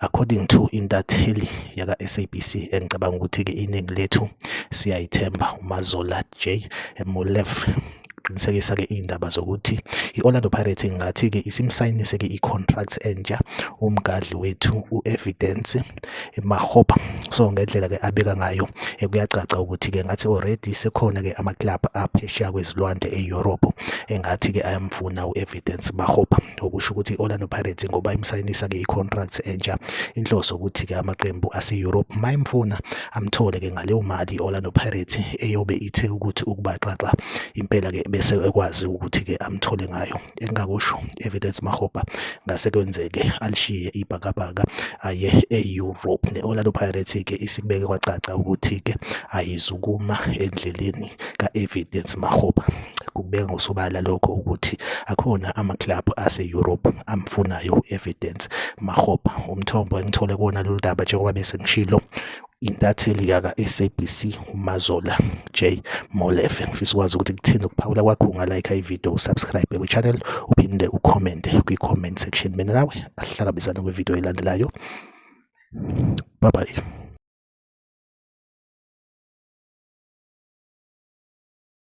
according to intatheli yaka-sabc engicabanga ukuthi-ke iningi lethu siyayithemba umazola j molef qinisekisa-ke iy'ndaba zokuthi i-orlando pirates ingathi-ke isimsayinise-ke i-contract entsha umgadli wethu u-evidence mahopa so ngendlela-ke abeka ngayo eh, kuyacaca ukuthi-ke ngathi already sekhona-ke amaklabhu aphesheya kwezilwandle e-europe engathi-ke ayamfuna u-evidence mahopa okusho ukuthi i-Orlando Pirates ngoba imsayinisa-ke i-contract entsha inhloso ukuthi-ke amaqembu ase-Europe mayimfuna amthole ke ngaleyo mali i-Orlando Pirates eyobe ithe ukuthi ukubaxaxa impela-ke bese ekwazi ukuthi-ke amthole ngayo engingakusho evidence mahopa ngase kwenzeke alishiye ibhakabhaka aye e-Europe ne-Orlando Pirates-ke isibeke kwacaca ukuthi-ke ayizukuma endleleni ka-evidence mahopa Kubeka ngosobala lokho ukuthi akhona amakilabhu ase-Europe amfunayo u-Evidence Makgopa. Umthombo engithole kuwona lolu daba njengoba bese ngishilo intatheli yaka-SABC uMazola J Molefe. Ngifisa ukwazi ukuthi kuthini ukuphawula kwakho ungalike ividiyo usubscribe kwi-channel uphinde ukhomente kwi-comment section. Mina nawe asihlangabezane kwividiyo elandelayo. Bye bye.